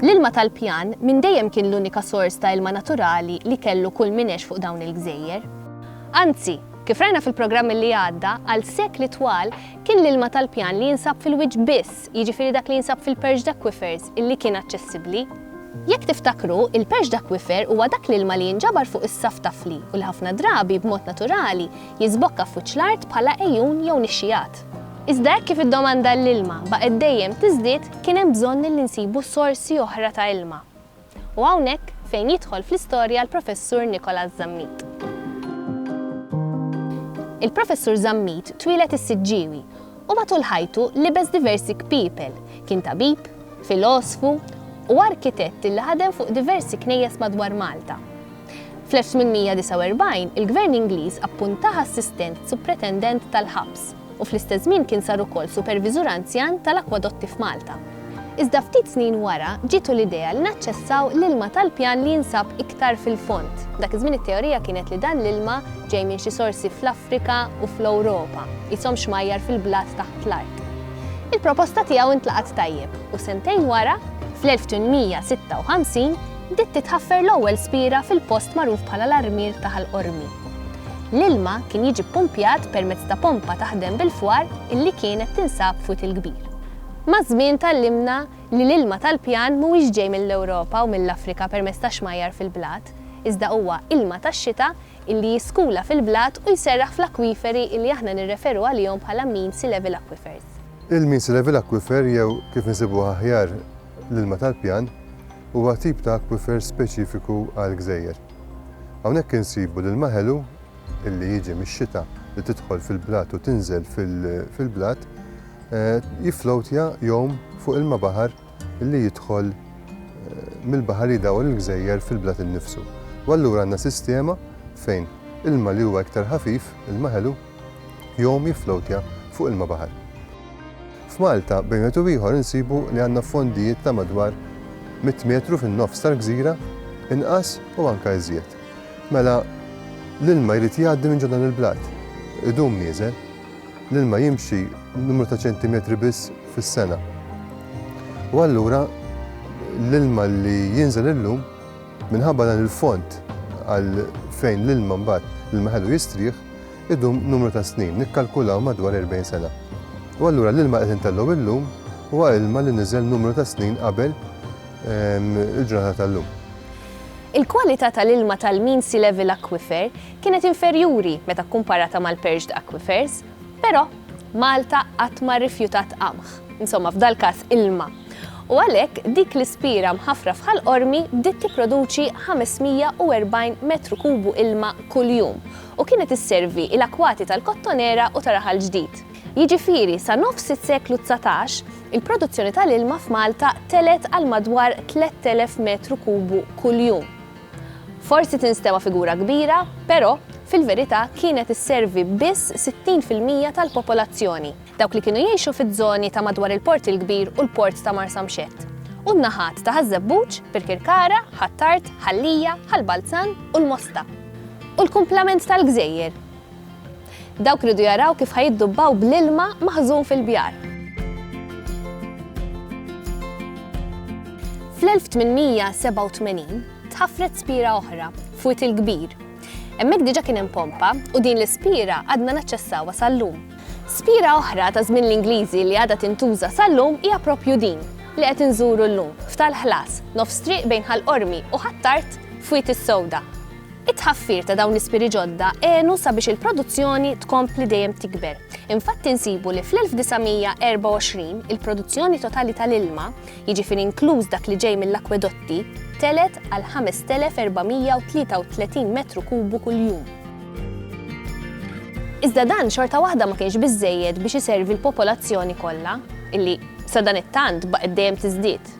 L-ilma tal-pjan minn dejjem kien l-unika sors ta' ilma naturali li kellu kull min għex fuq dawn il-gżejjer. Anzi, kif rajna fil-programm li għadda, għal sekli twal kien l-ilma tal-pjan li jinsab fil-wiċċ biss, jiġifieri dak li jinsab fil-perched aquifers, illi kien aċċessibbli. Jekk tiftakru, il-perched aquifer huwa dak l-ilma li jinġabar fuq is-saff ta' fli u li ħafna drabi, b'mod naturali, jiżbokka f'wiċċ l-art bħala għejun jew nixxigħat. Iżda hekk kif id-domanda għall-ilma baqgħet dejjem tiżdied kien hemm bżonn li nsibu sorsi oħra ta' ilma. U hawnhekk fejn jidħol fl-istorja l-Professur Nicholas Zammit. Il-Professur Zammit twieled is-Siġġiewi u matul ħajtu libes diversi kpiepel, kien tabib, filosfu u arkitett li ħadem fuq diversi knejjes madwar Malta. Fl-1849 il-Gvern Ingliż appuntah assistent supretendent tal-ħabs u fl-istess żmien kien sar ukoll superviżur anzjan tal-akwadotti f'Malta. Iżda ftit snin wara ġietu l-idea li naċċessaw l-ilma tal-pjan li jinsab iktar fil-fond. Dak iż-żmien it-teorija kienet li dan l-ilma ġej minn xi sorsi fl-Afrika u fl-Ewropa, qishom xmajjar fil-blat taħt l-art. Il-proposta tiegħu ntlaqgħet tajjeb u sentejn wara, fl-1856, bdiet titħaffer l-ewwel spiera fil-post magħruf bħala l-Armier ta' Ħal Qormi. L-ilma kien jiġi ppumpjat permezz ta' pompa taħdem bil-fwar illi kienet tinsab f'Wied il-Kbir. Maż-żmien tgħallimna li l-ilma tal-pjan mhuwiex ġej mill-Ewropa u mill-Afrika permezz ta' xmajjar fil-blat, iżda huwa ilma tax-xita illi jiskula fil-blat u jserraħ fl-akwiferi illi aħna nirreferu għalihom bħala Mean Sea Level Aquifers. Il-Mean Sea Level Aquifer jew kif insibuh aħjar L-ilma tal-pjan huwa tip ta' akwifer speċifiku għall-gżejjer. Hawnhekk insibu l-ilma ħelu li jiġi mix-xita li tidħol fil-blat u tinżel fil-blat jifflowtja jgħum fuq ilma baħar li jidħol mill-baħar li jdawwar il-gżejjer fil-blat innifsu. U allura għandna sistema fejn ilma li huwa iktar ħafif, ilma ħelu, Jom jifflowtja fuq ilma baħar. F'Malta, bejn wieħed u ieħor insibu li għandna fondijiet ta' madwar mitt metru fin-nofs tal-gżira, inqas u anke iżjed. Mela, l-ilma jrid jgħaddi minn ġo dan il-blat. Idum nieżel. L-ilma jimxi numru ta' ċentimetri biss fis-sena. U allura l-ilma li jinżel illum minħabba dan il-fond għal fejn l-ilma mbagħad l-ilma ħelu jistrieħ, idum numru ta' snin, nikkalkulaw madwar 40 sena. U allura l-ilma qed intellgħu illum huwa ilma li niżel numru ta' snin qabel ehm, il-ġurnata tal-lum. Il-kwalità tal-ilma tal-Mean Sea Level Aquifer kienet inferjuri meta kkumparata mal-perched aquifers, però Malta qatt ma rrifjutat qamħ. Insomma, f'dal-każ ilma u għalhekk dik l-ispira mħaffra f'Ħal Qormi bdiet tipproduċi 540 metru kubu ilma kuljum u kienet isservi il-akwati tal-Kottonera u ta' Raħal Ġdid. Jiġifieri sa nofs is-seklu dsatax, il-produzzjoni tal-ilma f'Malta telgħet għal madwar 3,000 metru kubu kuljum. Forsi tinstema' figura kbira, però, fil-verità kienet isservi biss 60 fil-mija tal-popolazzjoni. dawk li kienu jgħixu fiż-żoni ta' madwar il-Port il-Kbir u l-Port ta' Marsamxett, u n-naħat ta' Ħaż-Żebbuġ, Birkirkara, Ħ'Attard, Ħal-Lija, Ħal-Balzan u l-Mosta, u l-kumplament tal-gżejjer. Dawk riedu jaraw kif ħa jiddubbaw bl-ilma maħżun fil-bjar. Fl-1887 tħaffret spiera oħra, f'Wied il-Kbir. Hemmhekk diġà kien hemm pompa u din l-ispiera għadna naċċessawha sal-lum. Spira oħra ta' żmien l-Ingliżi li għadha tintuża sal-lum hija proprju din li qed inżuru llum, f'Tal Ħlas, nofs triq bejn Ħal Qormi u Ħ'Attard f'Wied is-Sewda. It-tħaffir ta' dawn l-ispiri ġodda għenu sabiex il-produzzjoni tkompli dejjem tikber. Infatti nsibu li fl-1924 il-produzzjoni totali tal-ilma, jiġifieri inkluż dak li ġej mill-akwedotti, telgħet għal 5,433 metru kubu kuljum. Iżda dan xorta waħda ma kienx biżżejjed biex iservi l-popolazzjoni kollha, illi sadanittant baqgħet dejjem tiżdied.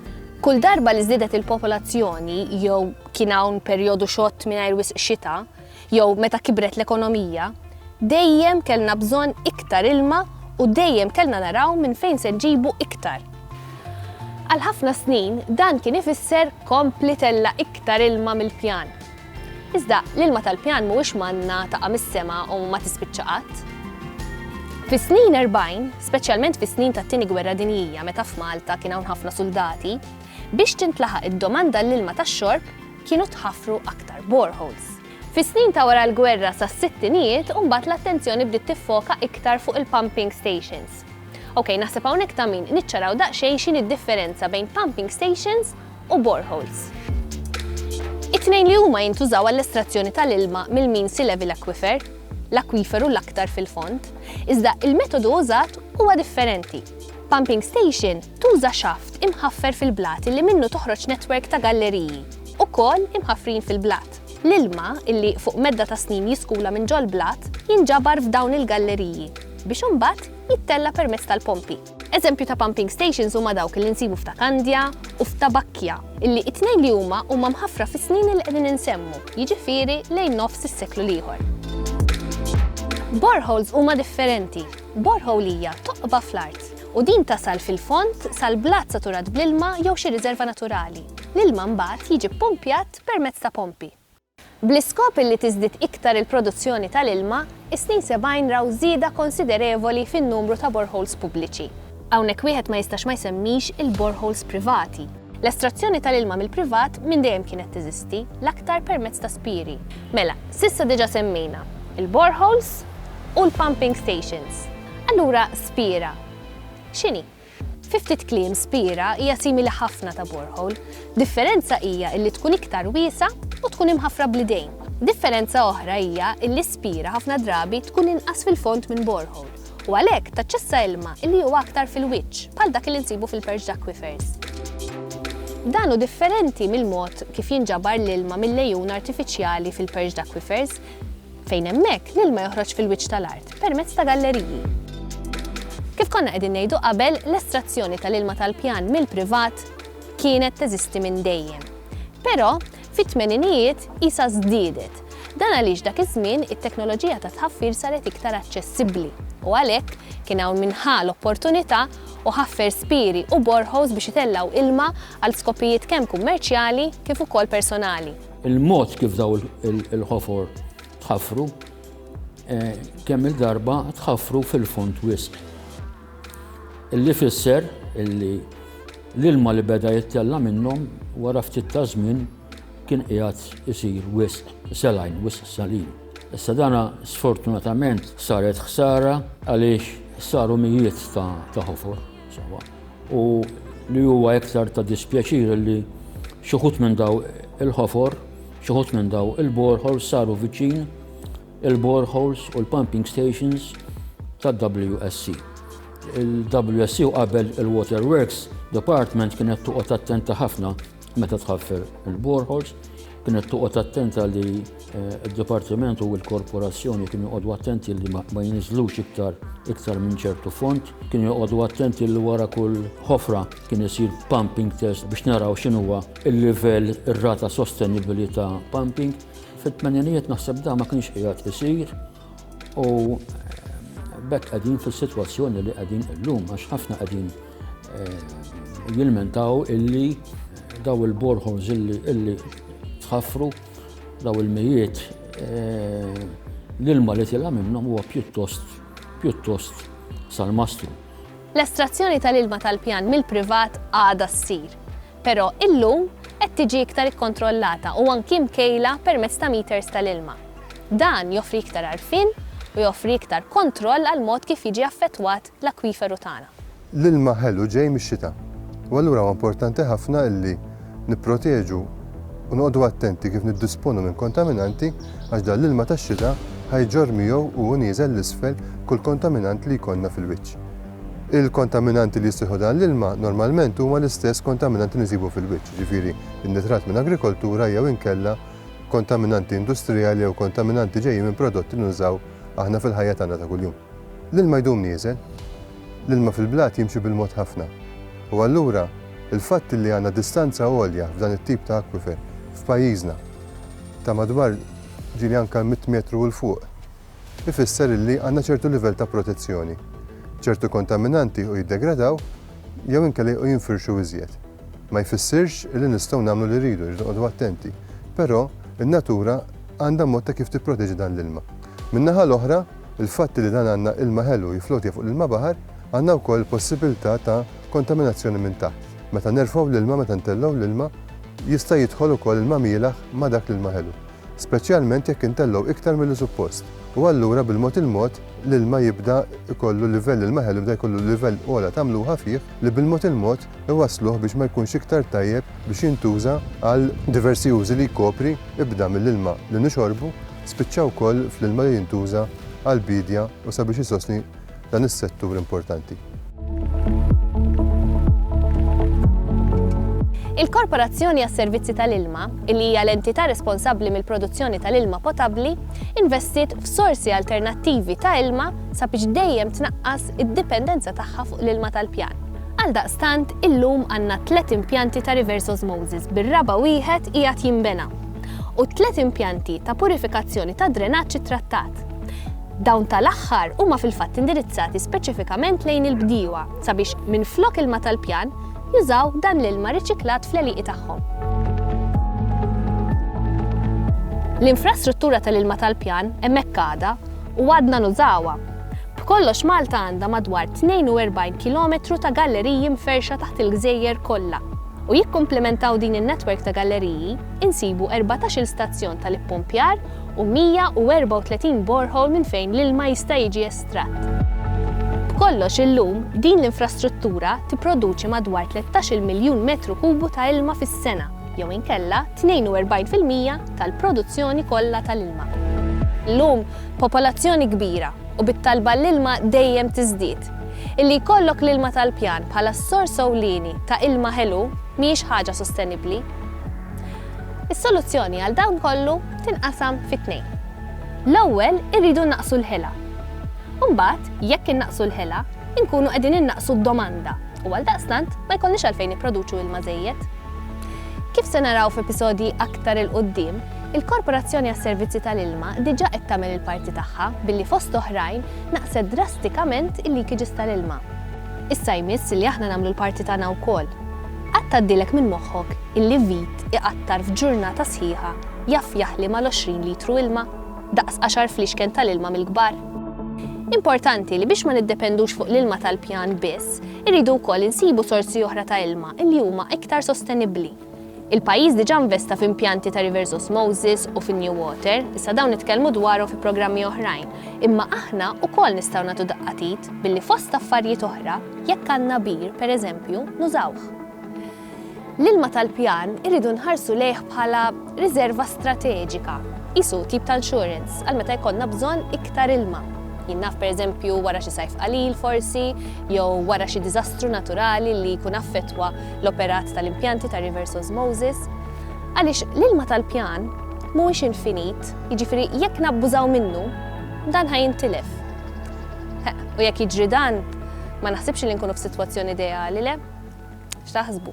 Kull darba li żdiedet il-popolazzjoni jew kien hawn perjodu xott mingħajr wisq xita, jew meta kibret l-ekonomija, dejjem kellna bżonn iktar ilma u dejjem kellna naraw minn fejn se nġibu iktar. Għal ħafna snin dan kien ifisser kompli tella' iktar ilma mill-pjan, Iżda, l-ilma tal-pjan mhuwiex manna taqa' mis-sema u ma tispiċċa qatt. Fis-snin erbgħin, speċjalment fis-snin tat-Tieni Gwerra Dinjija meta f'Malta kien hawn ħafna suldati, biex tintlaħaq id-domanda għall-ilma tax-xorb kienu tħaffru aktar boreholes. Fis-snin ta' wara l-gwerra sas-sittinijiet u mbagħad l-attenzjoni bdiet tiffoka iktar fuq il-pumping stations. Ok, naħseb hawnhekk ta' min niċċaraw daqsxejn x'inhi d-differenza bejn pumping stations u boreholes. It-tnejn li huma jintużaw għall-estrazzjoni tal-ilma mill-mean sea level aquifer, l-akwiferu l-aktar fil-fond, iżda il-metodu użat huwa differenti. Pumping station tuża xaft imħaffer fil-blat li minnu toħroġ netwerk ta' galleriji, ukoll imħaffrin fil-blat. L-ilma, li fuq medda ta' snin jiskula minn ġol-blat, jinġabar f'dawn il-galleriji, biex imbagħad jittella' permezz tal-pompi. Eżempju ta' pumping stations huma dawk li nsibu f'Ta' Kandja u f'Ta' Bakkja, illi it-tnejn li huma huma mħaffra fis-snin li qegħdin insemmu, jiġifieri lejn nofs is-seklu l-ieħor. Boreholes huma differenti. Borehole hija toqba fl-art u din tasal fil-fond sal-blat saturat bl-ilma jew xi riżerva naturali. L-ilma mbagħad jiġi ppumpjat permezz ta' pompi. Bl-iskop illi tiżdied iktar il-produzzjoni tal-ilma, is-snin sebgħin raw żieda konsiderevoli fin-numru ta' boreholes pubbliċi. Hawnhekk wieħed ma jistax ma jsemmix il-boreholes privati. L-estrazzjoni tal-ilma mill-privat minn dejjem kienet teżisti, l-aktar permezz ta' spieri. Mela, s'issa diġà semmejna l-boreholes u l-pumping stations. Allura spiera x'inhi? Fi ftit kliem Spira hija simili ħafna ta' borehole. Differenza hija illi tkun iktar wiesgħa u tkun imħaffra bl-idejn. Differenza oħra hija illi Spira ħafna drabi tkun inqas fil-fond minn borehole u għalhekk taċċessa ilma illi huwa aktar fil-wiċċ bħal dak illi nsibu fil-perched aquifers. Dan hu differenti mill-mod kif jinġabar l-ilma mill-għejun artifiċjali fil-perched aquifers. fejn hemmhekk l-ilma joħroġ fil-wiċċ tal-art permezz ta' galleriji. Kif konna qegħdin ngħidu qabel, l-estrazzjoni tal-ilma tal-pjan mill-privat kienet teżisti minn dejjem. Però, fit-tmeninijiet isa żdiedet. Dan għaliex dak iż-żmien it-teknoloġija ta' tħaffir saret iktar aċċessibbli u għalhekk kien hawn minħa l-opportunità u ħaffer spiri u borħos biex itellaw ilma għal skopijiet kemm kummerċjali kif ukoll personali. Il-mod kif daw il-ħofor tħaffru eh, kemm il-darba tħaffru fil-fond wisq. Illi fisser illi l-ilma li beda jittella minnhom wara ftit ta' żmien kien qiegħed isir wisq selajn, wisq salin. Issa dana sfortunatament saret ħsara għaliex saru mijiet ta' ħofor. u li huwa iktar ta' dispjaċir li xi wħud minn daw il-ħofor, xi wħud minn daw il-boreholes saru viċin il-boreholes u l-pumping stations tad-WSC. Il-WSC u qabel il-Waterworks Department kienet toqgħod attenta ħafna Meta tħaffer il-borehors, kienet toqgħod attenta li eh, d-Dipartiment u l-Korporazzjoni kienu joqogħdu attenti li ma jinizlux iktar iktar minn ċertu font, kienu joqogħdu attenti li wara kull ħofra kien isir pumping test biex naraw x'inhuwa il-livell ir-rata sostenibbli ta' pumping. Fit-tmeninijiet naħseb da ma kienx qiegħed isir, U eh, bekk qegħdin fis-sitwazzjoni li qegħdin illum għax ħafna qegħdin eh, jilmentaw illi daw il-borħons illi tħaffru daw il-mijiet eh, l-ilma li tilha minnhom huwa pjuttost pjuttost sal-mastru. L-estrazzjoni tal-ilma tal-pjan mill-privat għada ssir. Però illum qed tiġi iktar ikkontrollata u anki mkejla permezz ta' meters tal-ilma. Dan joffri iktar għarfien u joffri iktar kontroll għall-mod kif jiġi affettwat l-akwiferu tagħna. L-ilma ħelu ġej mix-xita u allura huwa importanti ħafna illi nipproteġu u noqogħdu attenti kif niddisponu minn kontaminanti għax dan l-ilma tax-xita ħa jġorr miegħu u hu nieżel 'l isfel kull kontaminant li jkollna fil-wiċċ. Il-kontaminanti li jissieħu dan l-ilma normalment huma l-istess kontaminanti li nsibu fil-wiċċ, jiġifieri n-nitrat minn agrikoltura jew inkella kontaminanti industrijali jew kontaminanti ġejjin minn prodotti li nużaw aħna fil-ħajja tagħna ta' kuljum. L-ilma jdum nieżel. L-ilma fil-blat jimxi bil-mod ħafna. U allura, il-fatt li għandna distanza għolja f'dan it-tip ta' aquifer f'pajjiżna ta' madwar ġieli anke mitt metru 'l fuq, ifisser illi għandna ċertu livell ta' protezzjoni. Ċertu kontaminanti jiequ jiddegradaw jew inkella jiequ jinfirxu iżjed. Ma jfissirx illi nistgħu nagħmlu li rridu, irridu noqogħdu attenti, però n-natura għandha mod ta' kif tipproteġi dan l-ilma. Min-naħa l-oħra, il-fatt illi dan għandna ilma ħelu jifflotja fuq l-ilma baħar, għandna wkoll il-possibilità ta' kontaminazzjoni minn taħt. Meta nerfgħu l-ilma, meta ntellgħu l-ilma, jista' jidħol ukoll ilma mielaħ ma' dak l-ilma ħelu. speċjalment jekk intellgħu iktar milli suppost, u allura bil-mod il-mod l-ilma jibda jkollu livell, l-ilma ħelu jibda jkollu livell ogħla ta' mluħa fih li bil-mod il-mod iwassluh biex ma jkunx iktar tajjeb biex jintuża għal diversi użi li jkopri, ibda mill-ilma li nixorbu, spiċċa wkoll fl-ilma li jintuża għall-biedja u sabiex isostni dan is-settur importanti. Il-Korporazzjoni għas-Servizzi tal-Ilma, li hija l-entità responsabbli mill-produzzjoni tal-ilma potabbli, investiet f'sorsi alternattivi ta' ilma sabiex dejjem tnaqqas id-dipendenza tagħha fuq l-ilma tal-pjan. Għaldaqstant, illum għandna tliet impjanti ta' reverse osmosis bir-raba' wieħed qiegħed jinbena u tliet impjanti ta' purifikazzjoni ta' drenaġġ ittrattat. Dawn tal-aħħar huma fil-fatt indirizzati speċifikament lejn il-bdiewa sabiex minflok ilma tal-pjan jużaw dan l-ilma riċiklat fl-għelieqi tagħhom. L-infrastruttura tal-ilma tal-pjan hemmhekk għadha u għadna nużawha. B'kollox Malta għandha madwar 42 kilometru ta' galleriji mferrxa taħt il-gżejjer kollha u jikkumplimentaw din in-netwerk ta' galleriji insibu erbatax-il stazzjon tal-ippumpjar u 134 borehole minn fejn l-ilma jista' jiġi estratt. B'kollox illum, din l-infrastruttura tipproduċi madwar 13-il miljun metru kubu ta' ilma fis-sena, jew inkella 42 fil-mija tal-produzzjoni kollha tal-ilma. Illum, popolazzjoni kbira, u bit-talba għall-ilma dejjem tiżdied, illi jkollok l-ilma tal-pjan bħala s-sors ewlieni ta' ilma ħelu mhijiex ħaġa sostenibbli. Is-soluzzjoni għal dan kollu tinqasam fi tnejn. L-ewwel irridu nnaqqsu l-ħela. Imbagħad, jekk innaqqsu l-ħela, inkunu qegħdin innaqqsu d-domanda u għaldaqstant ma jkollniex għalfejn nipproduċu ilma żejjed. Kif se naraw f'episodji aktar 'il quddiem, il-Korporazzjoni għas-Servizzi tal-Ilma diġà qed tagħmel il-parti tagħha billi fost oħrajn naqqset drastikament il-leakages tal-ilma. Issa jmiss li aħna nagħmlu l-parti tagħna wkoll. Qatt tgħaddilek minn moħħok illi vit iqattar f'ġurnata sħiħa jaf jaħli mal-għoxrin litru ilma, daqs għaxar fliexken tal-ilma mill-kbar? Importanti li biex ma niddependux fuq l-ilma tal-pjan biss, irridu wkoll insibu sorsi oħra ta' ilma illi huma iktar sostenibbli. Il-pajjiż diġà investa f'impjanti ta' reverse osmosis u fin-new water, issa dawn nitkellmu dwarhom fi programmi oħrajn, imma aħna wkoll nistgħu nagħtu daqqa t'id billi fost affarijiet oħra, jekk għandna bir, pereżempju, nużawh. L-ilma tal-pjan irridu nħarsu lejh bħala riżerva strateġika, qisu tip ta' insurance għal meta jkollna bżonn iktar ilma. Jien naf pereżempju wara xi sajf qalil forsi, jew wara xi diżastru naturali li jkun affettwa l-operat tal-impjanti ta' reverse osmosis, għaliex l-ilma tal-pjan mhuwiex infinit, jiġifieri jekk nabbużaw minnu, dan ħajintilef. U jekk jiġri dan, ma naħsibx li nkunu f'sitwazzjoni ideali le? X'taħsbu?